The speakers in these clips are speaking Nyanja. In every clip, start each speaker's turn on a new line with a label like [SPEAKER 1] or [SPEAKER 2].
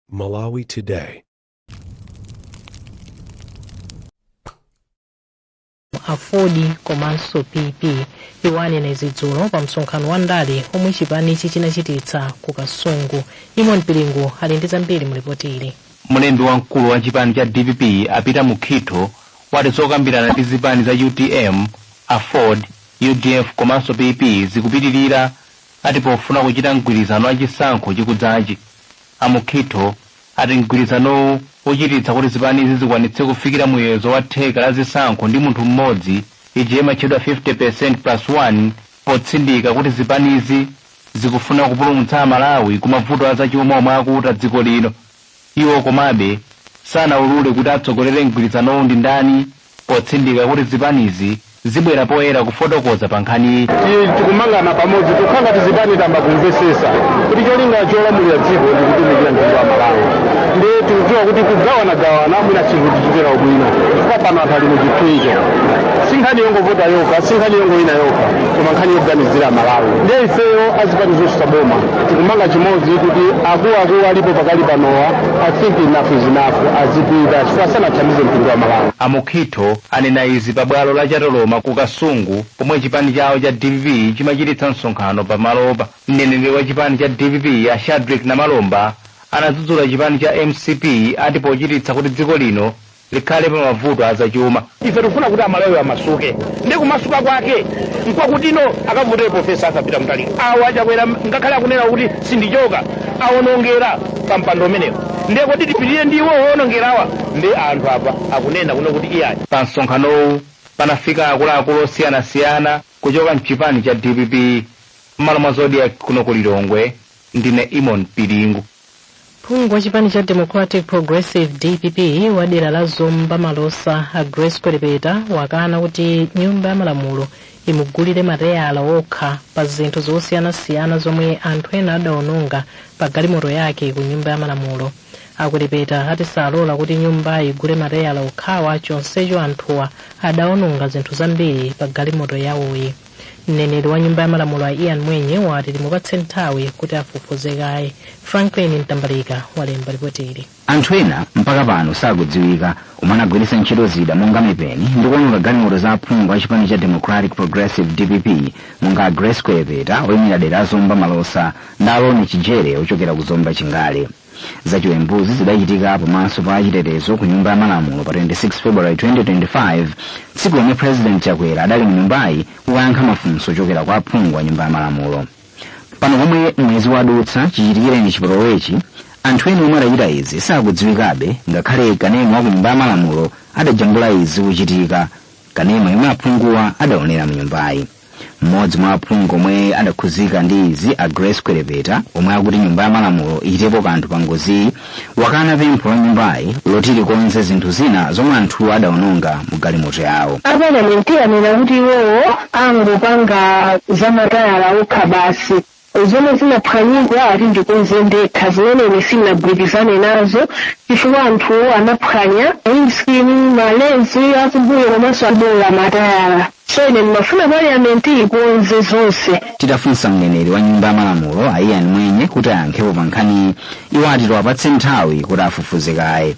[SPEAKER 1] Malawi
[SPEAKER 2] Today. Aford komanso pp Iwo anena izi dzulo pa msonkhano wa ndale omwe chipanichi chinachititsa ku kasungu Eamon Piringu ali ndi zambiri mu lipoti ili mlembi wamkulu
[SPEAKER 3] wa chipani cha dpp a Peter Mukhitho wati zokambirana ndi zipani za utm aford udf komanso pp zikupitirira ati pofuna kuchita mgwirizano wa chisankho chikudzachi, a Mukhitho ati mgwirizanowu uchititsa kuti zipanizi zikwanitse kufikira muyezo wa theka la zisankho ndi munthu mmodzi, ija imatchedwa 50% plus 1, potsindika kuti zipanizi zikufuna kupulumutsa Amalawi ku mavuto a zachuma omwe akuta dziko lino. Iwo komabe sanaulule kuti atsogolere mgwirizanowu ndi ndani potsindika kuti zipanizi zibwera poyera kufotokoza pa nkhaniyi. Ti- tikumangana
[SPEAKER 4] pamodzi tikukhala ngati zipani tamba kumvesesa kuti cholinga cholamulira dziko ndi kutumikira mtundu wa malawi ndiye tikudziwa kuti kugawanagawana mwina chinthu tichitira ubwino chifukwa pano anthu ali mu chipinjo si nkhani yongovota yokha si nkhani yongowina yokha koma nkhani yoganizira malawi ndiye ifeyo azipani zosusa boma tikumanga chimodzi kuti akuluakulu alipo pakali panowa i think enough is enough azipita chifukwa sanathandize mtundu wa malawi a mukhitho anena
[SPEAKER 3] izi pa bwalo la chatoloma ku kasungu pomwe chipani chawo cha dpp chimachititsa msonkhano pa malopa mneneri wa chipani cha dpp a shadric namalomba anadzudzula chipani cha mcp ati pochititsa kuti dziko lino likhale pa mavuto azachuma ife tikufuna kuti
[SPEAKER 4] amalawi amasuke ndi kumasuka kwake nkwakutino akavotera profesa Arthur Peter Mutharika awa a Chakwera ngakhale akunena kuti sindichoka awonongera pa mpando umenewo ndiye kodi tipitire ndi iwo owonongerawa ndiye anthu apa akunena kuno kuti iyayi pa
[SPEAKER 3] msonkhanowu panafika akuluakulu osiyanasiyana kuchoka mchipani cha dpp mmalo mwa zodiak kuno ku lilongwe ndine Eamon Piringu
[SPEAKER 2] phungu wa chipani cha democratic progressive dpp wa dera la zomba malosa a grace kwelepeta wakana kuti nyumba ya malamulo imugulire matayala okha pa zinthu zosiyanasiyana zomwe anthu ena adaononga pa galimoto yake ku nyumba ya malamulo a kwelepeta ati salola kuti nyumba igule matayala okhawa chonsecho anthuwa adaononga zinthu zambiri pa galimoto yawoyi mneneri wa nyumba ya malamulo a ian mwenye wati timupatse nthawi kuti afufuze kaye franklin mtambalika walemba ripoti ili anthu ena mpaka
[SPEAKER 5] pano sakudziwika omwe anagwiritsa ntchito zida monga mipeni ndi kuononga galimoto za aphungu a chipani cha democratic progressive dpp monga a grace kwelepeta oyimira dera la zomba malosa ndi a Lonnie chijere ochokera ku zomba chingale zachiwembuzi zidachitika pamaso pa achitetezo ku nyumba ya malamulo pa 26 february 2025 tsiku lomwe president chakwera adali mu nyumbayi kukayankha mafunso ochokera kwa aphungu a nyumba ya malamulo pano pomwe mwezi wadutsa chichitikireni chipolowechi anthu ena omwe adachita izi sakudziwikabe ngakhale kanema wa ku nyumba ya malamulo adajambula izi kuchitika kanema yomwe aphunguwa adaonera mu nyumbayi mmodzi mwa aphungu omwe adakhuzika ndi izi a grace kwelepeta omwe akuti nyumba ya malamulo ichitepo kanthu pa ngoziyi wakana pempho la nyumbayi loti likonze zinthu zina zomwe anthuwo adaononga mu galimoto yawo apalamenti anena
[SPEAKER 6] kuti iwowo angopanga za matayala okha basi zomwe zinaphwanyidwa ati ndikonze ndekha zimene ine sindinagwirizane nazo chifukwa anthuwo anaphwanya windscreen malenzi akumbuyo komanso aboola matayala so ine ndimafuna parliament ikonze zonse titafunsa
[SPEAKER 5] mneneri wa nyumba ya malamulo a ian mwenye kuti ayankhepo pa nkhaniyi iwo ati tiwapatse nthawi kuti afufuze kaye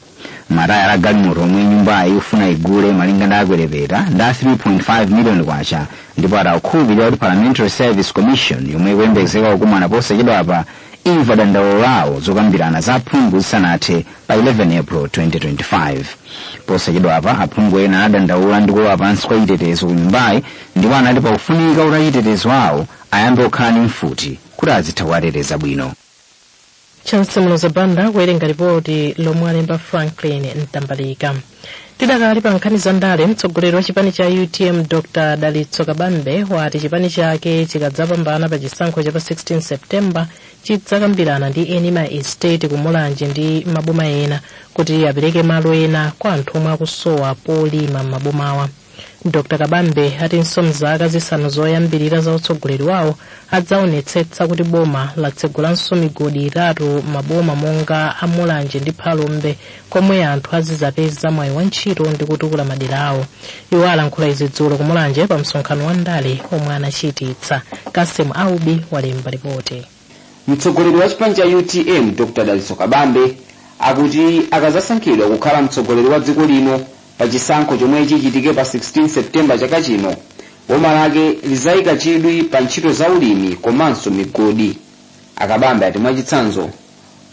[SPEAKER 5] matayala a galimoto omwe nyumbayi ikufuna igule malinga ndi a kwelepeta ndi a 3.5 miliyoni kwacha ndipo ati akukhulupirira kuti parliamentary service commission yomwe ikuyembekezeka kukumana posachedwapa imva dandaulo lawo zokambirana za aphungu zisanathe pa 11 april 2025 posachedwapa aphungu ena anadandaula ndi kulowa pansi kwa chitetezo ku nyumbayi ndipo anati pakufunika kuti achitetezo awo ayambe kukhala ndi mfuti kuti azitha kuwateteza bwino
[SPEAKER 2] chancy muloza banda kuwerenga lipoti lomwe alemba franklin mtambalika tidakali pa nkhani za ndale mtsogoleri wa chipani cha utm dr dalitso kabambe wati chipani chake chikadzapambana pa chisankho cha pa 16 september chidzakambirana ndi eni ma estate ku mulanje ndi maboma ena kuti apereke malo ena kwa anthu omwe akusowa polima m'mabomawa dr kabambe atinso mzaka zisanu zoyambirira za utsogoleri wawo adzaonetsetsa kuti boma latsegulanso migodi itatu m'maboma monga a mulanje ndi phalombe komwe anthu azizapeza mwayi wa ntchito ndi kutukula madera awo iwo alankhula izi dzulo ku mulanje pa msonkhano wa ndale omwe anachititsa cassim aubi walemba
[SPEAKER 7] ripoti mtsogoleri wa
[SPEAKER 2] chipani
[SPEAKER 7] cha utm dr
[SPEAKER 2] dalitso
[SPEAKER 1] kabambe akuti akazasankhidwa kukhala mtsogoleri wa dziko lino pa chisankho chomwe chichitike pa 16 septemba chaka chino boma lake lizayika chidwi pa ntchito za ulimi komanso migodi a kabambe ati mwachitsanzo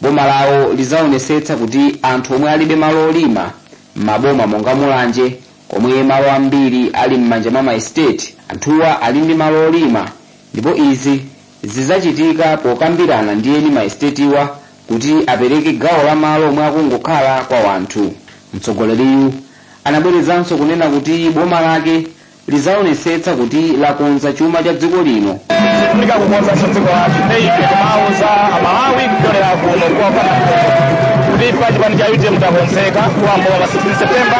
[SPEAKER 1] boma lawo lizaonesetsa kuti anthu omwe alibe malo olima m'maboma monga mulanje komwe malo ambiri ali m'manja mwa maestate anthuwa ali ndi malo olima ndipo izi Zizachitika pokambirana ndi eni ma esitetiwa kuti apereke gawo la malo omwe akungokhala kwa wanthu. Mtsogoleriyu anabwerezanso kunena kuti boma lake lizaonetsetsa kuti lakonza chuma cha dziko lino. Tifunika
[SPEAKER 4] kukonzanso dziko lathu. Nde ife timauza Amalawi kupyolera kuno kwa Bwana Mkoko kuti ife a chipani cha utm takonzeka kuyamba pa 16 September.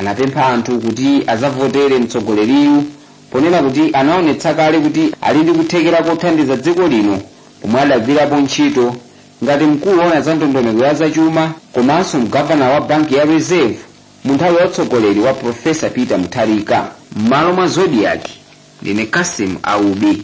[SPEAKER 1] anapempha anthu kuti azavotere mtsogoleriyu ponena kuti anaonetsa kale kuti ali ndi kuthekera kothandiza dziko lino pomwe adagwirapo ntchito ngati mkulu woona za ndondomeko ya zachuma komanso mgavana wa banki ya reserve mu nthawi ya utsogoleri wa profesa peter mutharika m'malo mwa zodiac ndine cassim aubi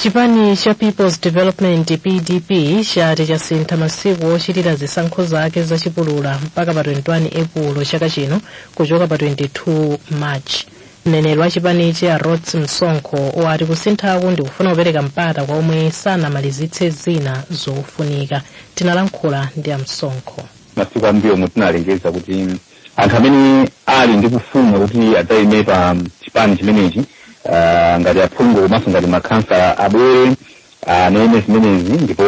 [SPEAKER 2] chipani cha peoples development pdp chati chasintha masiku ochitira zisankho zake zachipulula mpaka pa 21 epulo chaka chino kuchoka pa 22 march mneneri wa chipanichi a rhodes msonkho wati kusinthaku ndikufuna kupereka mpata kwa omwe sanamalizitse zina zofunika tinalankhula ndi a msonkho masiku ambuyomu
[SPEAKER 3] tinalengeza kuti anthu amene ali ndi kufuna kuti adzaime pa chipani chimenechi ah, ngati aphungu komanso ngati makhansala abwere anene zimenezi ndipo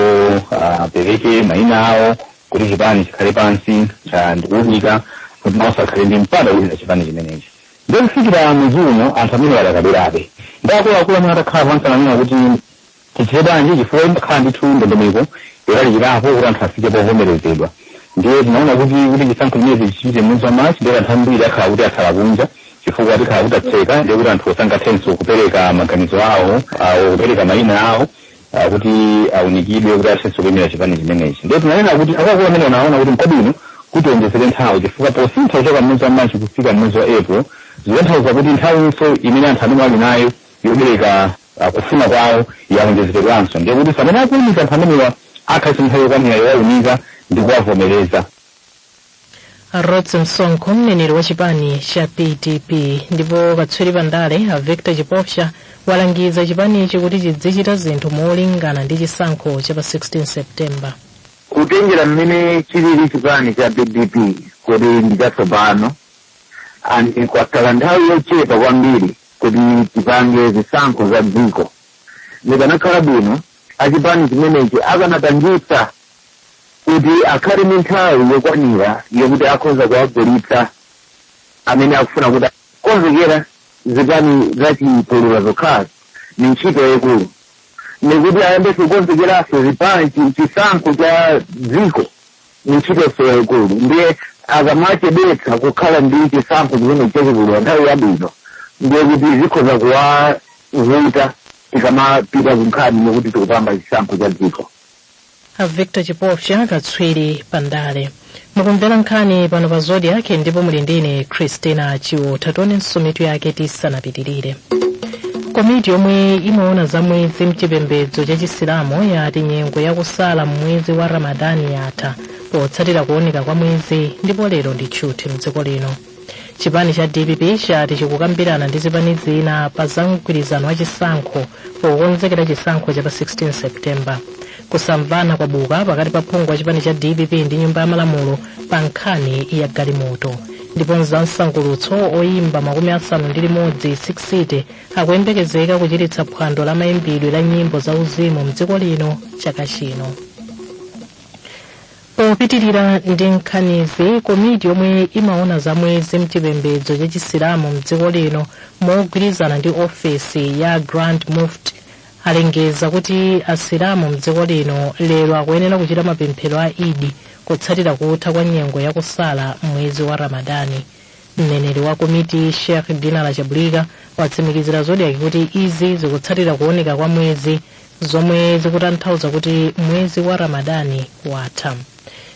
[SPEAKER 3] ah, apereke maina awo kuti chipani chikhale pansi ah, ndikuunika kuti nawo akhale ndi mpata wochita chipani chimenechi ndipo kufikira mwezi uno anthu amene adakabwerabe ndi akuluakulu amene atakhala pansi ananena kuti Tichite bwanji? Chifukwa imakhala ndithu ndondomeko yolalikirapo kuti anthu afike povomerezedwa. Ndiye tinaona kuti, kuti chisankho chimenechi tichichite mwezi wa March, ndiye kuti anthu ambiri akhala kuti atsala kunja chifukwa tikhala kuti tatseka, ndiye kuti anthuwo sangathenso kupereka maganizo awo, or kupereka mayina awo ah, kuti aunikidwe kuti athenso kuyimira chipani chimenechi. Ndiye tinanena kuti akuluakulu amene anaona kuti nkwabwino kuti awonjezere nthawi chifukwa posintha kuchoka mwezi wa March kufika mwezi wa April zikutanthauza kuti nthawinso imene anthu amene ali nayo yopereka kufuna kwawo yawonjezeredwanso, ndiye kuti pamene akuunika anthu amenewa akhala ndi nthawi yokwanira yowaunika ndi
[SPEAKER 2] kuwavomereza. Rhodes Msonkho mneneri wa chipani cha PDP ndipo katswiri pa ndale a Victor Chipofya walangiza chipanichi kuti chidzichita zinthu molingana ndi chisankho cha pa 16 September.
[SPEAKER 7] kutengera mmene chilili chipani cha pdp kuti ndi chatsopano and kwakhala nthawi yochepa kwambiri kuti tipange zisankho za dziko zikanakhala bwino achipani chimenechi akanapangiratu kuti akhale ndi nthawi yokwanira yokuti akhoza kuwagulitsa amene akufuna koma kukonzekera zipani zachipulula zokhazo ni ntchito yayikulu ni kuti ayambe kukonzekeranso zipani chi- chisankho cha dziko ndi ntchitonso yaikulu ndiye akamachedwetsa kukhala ndi chisankho chimene chachikulu nthawi yabwino ndiye kuti zikhoza kuwavuta tikamapita kunkhani yokuti tikupanga chisankho cha dziko a
[SPEAKER 2] victor chipofya katswiri pa ndale mukumvera nkhani pano pa zodiak ndipo muli ndine christina chiwotha tionenso mitu yake tisanapitirire komiti yomwe imaona za mwezi mchipembedzo cha chisilamu yati nyengo yakusala m'mwezi wa ramadani yatha potsatira kuoneka kwa mwezi ndipo lero ndi tchuthi mdziko lino chipani cha dpp chati chikukambirana ndi zipani zina pa za mgwirizano wa chisankho pokonzekera chisankho cha pa 16 september kusamvana kwabuka pakati pa phungu wa chipani cha dpp ndi nyumba ya malamulo pa nkhani ya galimoto ndipo mzamsangulutso oyimba makumi asanu ndi limodzi 60 akuyembekezeka kuchititsa phwando la mayimbidwe la nyimbo za uzimu mdziko lino chaka chino popitirira ndi nkhanizi komiti yomwe imaona za mwezi mchipembedzo cha chisilamu mdziko lino mogwirizana ndi ofesi ya grand mufti alengeza kuti asilamu mdziko lino lero akuyenera kuchita mapemphero a idi kutsatira kutha kwa nyengo ya kusala mwezi wa ramadani mneneri wa komiti sheikh dinala chabulika watsimikizira zodiak kuti izi zikutsatira kuoneka kwa mwezi zomwe zikutanthauza kuti mwezi wa ramadani watha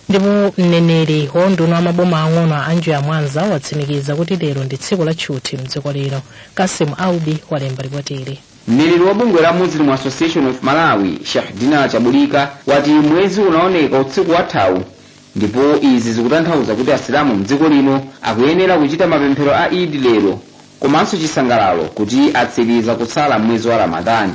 [SPEAKER 2] ndipo mneneri wa unduna wa maboma ang'ono anjoya mwanza watsimikiza kuti lero ndi tsiku la tchuthi mdziko lino kasim aubi walemba lipotili Mneneri wa bungwe
[SPEAKER 1] la Muslim Association of Malawi, Sheikh Dinala Chabulika, wati mwezi unaoneka utsiku wathawu ndipo izi zikutanthauza kuti asilamu mdziko lino akuyenera kuchita mapemphero a Eid lero komanso chisangalalo kuti atsiliza kusala m'mwezi wa Ramadhan.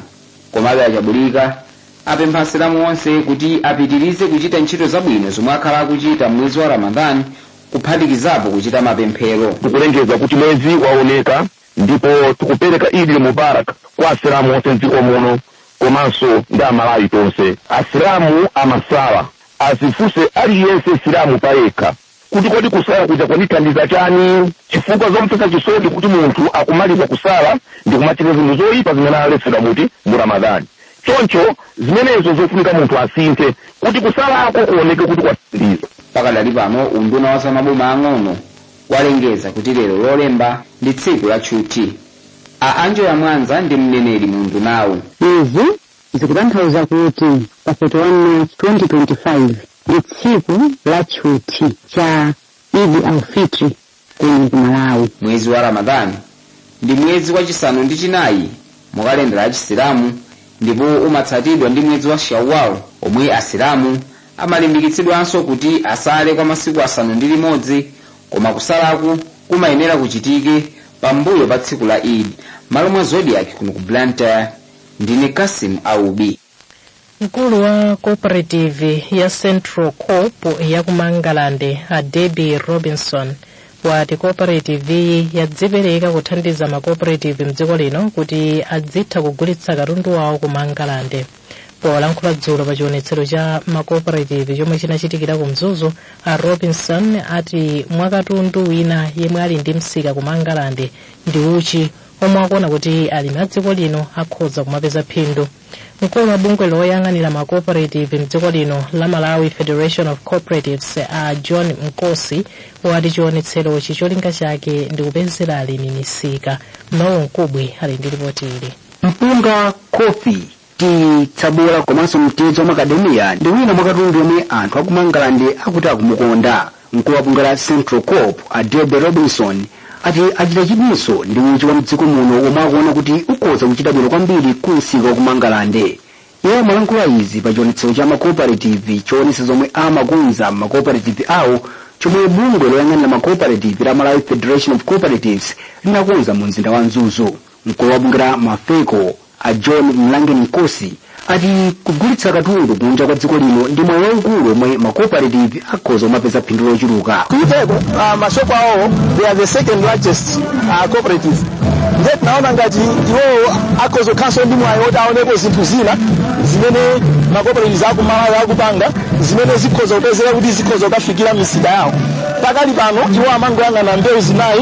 [SPEAKER 1] Komabe a Chabulika apempha asilamu onse kuti apitilize kuchita ntchito zabwino zomwe akhala akuchita m'mwezi wa Ramadhan kuphatikizapo kuchita mapemphero. Tikulengeza kuti mwezi
[SPEAKER 8] waoneka ndipo tikupereka Eid Mubarak kwa asilamu onse mdziko muno komanso ndi amalawi tonse asilamu amasala adzifunse aliyense silamu payekha kuti kodi kusala kuja kwanithandiza chani chifukwa zomvetsa chisoni kuti munthu akumaliza kusala ndi kumachita zinthu zoyipa zimene aletsedwa muti mu ramadhani choncho zimenezo zofunika munthu asinthe kuti kusalako kuoneke kuti kwathandiza pakadali pano
[SPEAKER 1] unduna wa zamaboma ang'ono walengeza kuti lero lolemba ndi tsiku la tchuthi. A Anjoya Mwanza ndi mneneri mu undunawu. Izi
[SPEAKER 9] zikutanthauza kuti pa 31 March 2025 ndi tsiku la tchuthi cha Eid al-Fitr kuno ku Malawi. Mwezi wa Ramadhan
[SPEAKER 1] Ndi mwezi wa chisanu ndi chinayi mu kalendala ya Chisilamu ndipo umatsatidwa ndi mwezi wa Shawwal omwe Asilamu amalimbikitsidwanso kuti asale kwa masiku asanu ndi limodzi koma kusalaku kumayenera kuchitike pambuyo pa tsiku la Eid. M'malo mwa Zodiak kuno ku Blantyre ndine Cassim Aubi.
[SPEAKER 2] mkulu wa cooperative ya central coop ya ku mangalande a debbie robinson wati cooperative iyi yadzipereka kuthandiza ma cooperative mdziko lino kuti adzitha kugulitsa katundu wawo ku mangalande polankhula dzulo pa chionetsero cha ma cooperative chomwe chinachitikira ku mzuzu a robinson ati mwakatundu wina yemwe ali ndi msika ku mangalande ndi uchi omwe akuona kuti alimi a dziko lino akhoza kumapeza phindu mkulu wa bungwe loyang'anira ma cooperative mdziko lino la malawi federation of cooperatives a john nkosi wati chionetserochi cholinga chake ndi kupezera alimi misika noel nkubwi ali ndi lipoti ili mpunga
[SPEAKER 5] kofi tiyi, tsabola komanso mtedza wa makadamiya ndi wina mwa katundu yomwe anthu aku Mangalande akuti akumukonda. Mkulu wa bungwe la Central Coop, a Debbie Robinson, ati achita chidwinso ndi uchi wa mdziko muno womwe akuona kuti ukhoza kuchita bwino kwambiri ku msika wa ku Mangalande. Iye amalankhula izi pa chionetsero cha makooperative choonetsa zomwe amakonza makooperative awo chomwe bungwe loyang'anira makooperative la Malawi Federation of Cooperatives linakonza mu mzinda wa Mzuzu. Mkulu wa bungwe la Mafeco, A John Mlangeni Nkosi ati kugulitsa katundu kunja kwa dziko lino ndi mwayi waukulu omwe ma cooperative akhoza kumapeza phindu lochuluka. Kutheka uh, mashopu
[SPEAKER 10] awo they are the second largest uh, cooperative ndiye tinaona ngati iwowo akhoza kukhalanso ndi mwayi woti aonepo zinthu zina zimene ma cooperatives aku Malawi akupanga zimene zikhoza kupezeka kuti zikhoza kukafikira misika yawo pakali pano iwo amangoyang'ana mbewu zinayi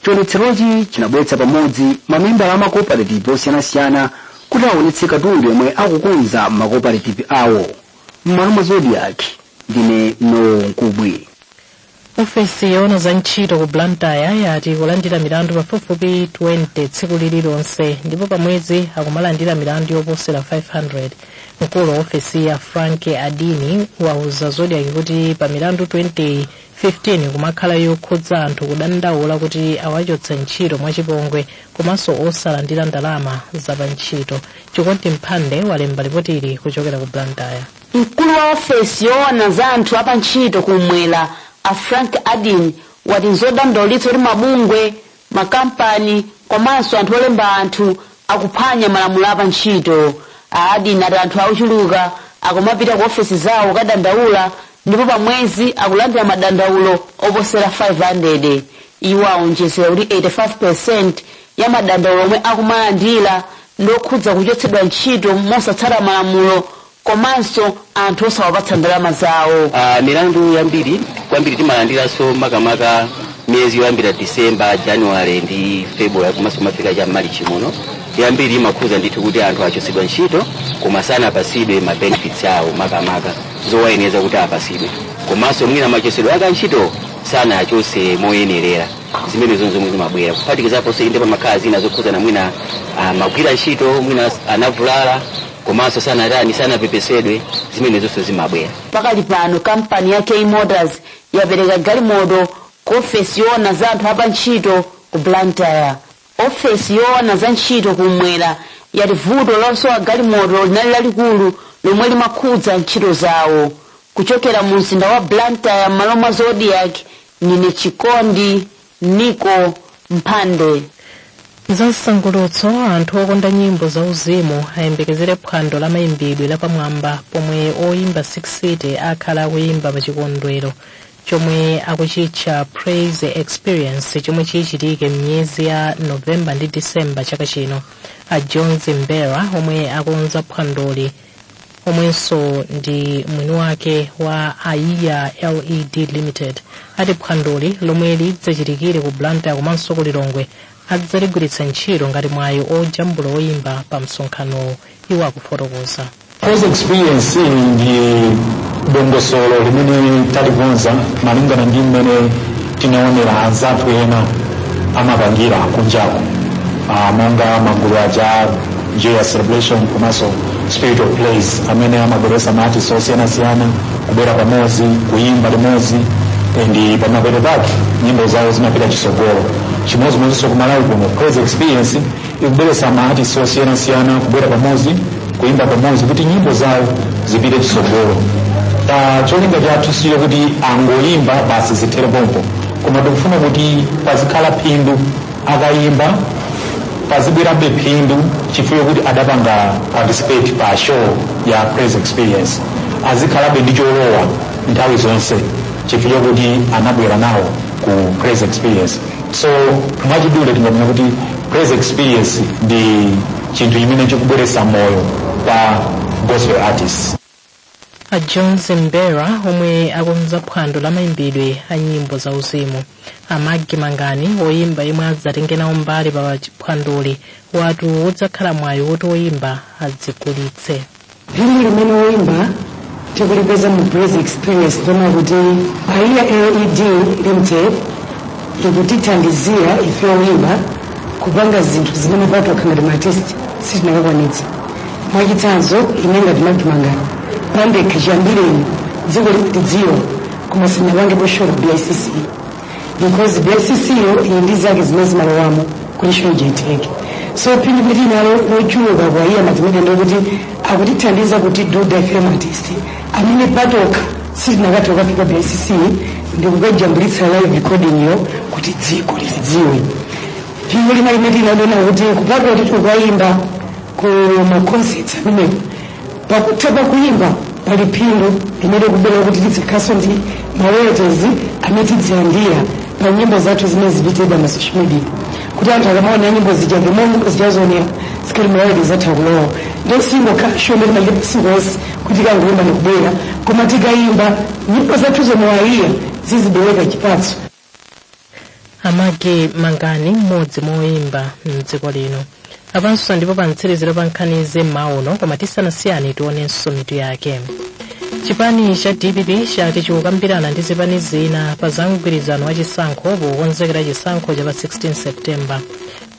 [SPEAKER 5] Chionetserochi chinabweretsa pamodzi mamembala a makoparetivi osiyanasiyana kuti aonetse katundu yomwe akukonza m'makoparetivi awo. M'malo mwa Zodiak, ndine Noel Nkubwi.
[SPEAKER 2] ofesi yoona za ntchito ku blantyre yati ikulandira milandu pafupifupi 20 tsiku lililonse ndipo pamwezi akumalandira milandu yoposera 500 mkulu wa ofesiyi a frank adini wauza zodiak kuti pa milandu 20 15 imakhala yokhudza anthu kudandaula kuti awachotsa ntchito mwachipongwe komanso osalandira ndalama zapantchito chikondi mphande walemba lipotili kuchokera ku blantyre mkulu
[SPEAKER 11] wa ofesi yoona za anthu apantchito kumwera a frank adini wati nzodandaulitsa kuti mabungwe Makampani komanso anthu olemba anthu akuphwanya malamulo a pa ntchito. A Adini ati anthu ochuluka akumapita ku ofesi zawo kukadandaula ndipo pa mwezi akulandira madandaulo oposera 500. Iwo awonjezera kuti 85% ya madandaulo omwe akumalandira ndi okhudza kuchotsedwa ntchito mosatsata malamulo komanso anthu osawapatsa ndalama zawo. Ah, milandu
[SPEAKER 12] yambiri kwambiri timalandiranso makamaka miyezi yoyambira disemba januwale ndi februwale komanso kumafika cha mmalichi muno yambiri imakhuza ndithu kuti anthu achotsedwa ntchito koma sanapatsidwe ma benefits awo makamaka zowayenera kuti apatsidwe komanso mwina machotsedwe ake antchito sanachotse moyenerera zimene zonse zomwe zimabwera kuphatikizaponso inde pamakhala zina zokhudzana mwina ah, amagwira ntchito mwina anavulala komanso sanatani sanapepesedwe zimene zonse zimabwera pakali
[SPEAKER 11] pano kampani ya k motors yapereka galimoto ku ofesi yoona za anthu apa ntchito ku blantyre ofesi yoona za ntchito kumwera yati vuto losowa galimoto linali lalikulu lomwe limakhudza ntchito zawo kuchokera mu mzinda wa blantyre m'malo mwa zodiak ndine chikondi Nico Mphande.
[SPEAKER 2] Za msangulutso anthu okonda nyimbo za uzimu ayembekezere phwando la mayimbidwe lapamwamba pomwe oyimba 6 city akhala akuyimba pa chikondwero chomwe akuchitcha praise experience chomwe chichitike m'miyezi ya novemba ndi disemba chaka chino a jones mbera omwe akonza phwandoli omwenso ndi mwini wake wa aiya led limited ati phwandoli lomwe lidzachitikire ku blantyre komanso ku lilongwe adzaligwiritsa ntchito ngati mwayi ojambula oyimba pa msonkhanowo iwo akufotokoza Praise
[SPEAKER 13] experience ndi dongosolo limene talikonza malingana ndi mmene tinaonera anzathu ena amapangira kunjako Ah, monga magulu aja joyous celebration komanso spirit of praise amene amabweretsa maartist osiyanasiyana kubwera pamodzi kuyimba limodzi ndi pamapeto pake nyimbo zawo zimapita chisogolo chimodzimodzinso kumalawi kuno praise experience ikubweretsa maartist osiyanasiyana kubwera pamodzi kuyimba pamodzi kuti nyimbo zawo zipite chisogolo cholinga chathu si choti angoyimba basi zithere pompo koma tikufuna kuti pazikhala phindu akayimba pazibwerabe phindu chifukwa chokuti adapanga participate pa show ya praise experience azikhalabe ndi cholowa nthawi zonse chifukwa chokuti anabwera nawo ku praise experience so mwachidule tinganene kuti praise experience ndi chinthu chimene chikubweretsa moyo kwa gospel artists
[SPEAKER 2] a john zimbera omwe akonza phwando la mayimbidwe a nyimbo za uzimu a magi mangani oyimba yemwe adzatenge nawo mbali pa phwandoli wati udzakhala mwayi woti oyimba adzigulitse
[SPEAKER 14] phindu limene woyimba tikulipeza mu praise experience ndona kuti aiya led limited ikutithandizira ife woyimba kupanga zinthu zimene patokha ngati maartist sitinakakwanitsa mwachitsanzo ine ngati magi mangani pandekha chiyambireni dziko litidziwa koma sinapangepo show ku bicc because bicc yo ili ndi zake zimene zimalowamo kuti show ija itheke so phindu tili nalo lochuluka kwa aiya matimene ndikuti akutithandiza kuti do the film artist amene patokha sitinakathe kukafika pa bicc ndikukajambulitsa live recording yo kuti dziko lizidziwe phindu lina limene ndinaona kuti kupatula kuti tikukayimba ku maconcerts amenewo pakutha pakuyimba pali phindu limene kubwera kuti tidzikhalanso ndi maroyalties amene tidzilandira pa nyimbo zathu zimene ziikidwa ma social media kuti anthu akamaona nyimbo zija the more nyimbo zija zaoneredwa tikhale maroyalties athu akulowa ndiye sikungokhala show ndi malipo singo onse kuti tikangoimba ndikubwera koma tikayimba nyimbo zathu zomwe aiya zizibereka chipatso a
[SPEAKER 2] magi mangani mmodzi mwa oyimba mdziko lino apanso ndipo pa mtsiriziro pa nkhani za m'mawa uno koma tisanasiyani tionenso mitu yake chipani cha dpp chati chikukambirana ndi zipani zina pa za mgwirizano wa chisankho pokonzekera chisankho cha pa 16 september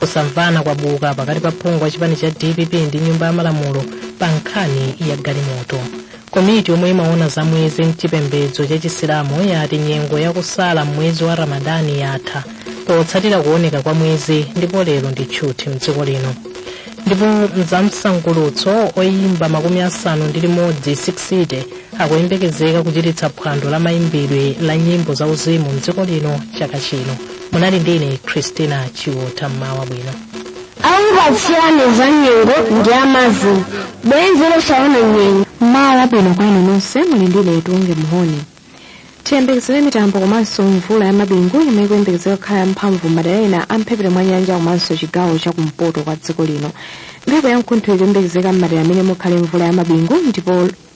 [SPEAKER 2] kusamvana kwabuka pakati pa phungu wa chipani cha dpp ndi nyumba ya malamulo pa nkhani ya galimoto komiti yomwe imaona za mwezi mchipembedzo cha chisilamu yati nyengo yakusala m'mwezi wa ramadani yatha potsatira kuoneka kwa mwezi ndipo lero ndi tchuthi mdziko lino ndipo mzamsangulutso oyimba makumi asanu ndi limodzi 60 akuyembekezeka kuchititsa phwando la mayimbidwe la nyimbo za uzimu mdziko lino chaka chino munali ndi ine christina chiwota mmawa bwino
[SPEAKER 6] okupatsirani za nyengo ndi amazulu bwenzi
[SPEAKER 15] losaonana nyengo mmawa wabwino kwa inu nonse muli ndi ine tiunge mhoni tiyembekezere mitambo komanso mvula ya mabingu yomwe ikuyembekezeka kukhala yamphamvu m'madera ena a mphepete mwa nyanja komanso chigawo cha kumpoto kwa dziko lino mphepo ya mkuntho ikuyembekezeka m'madera amene mukhale mvula ya mabingu ndipo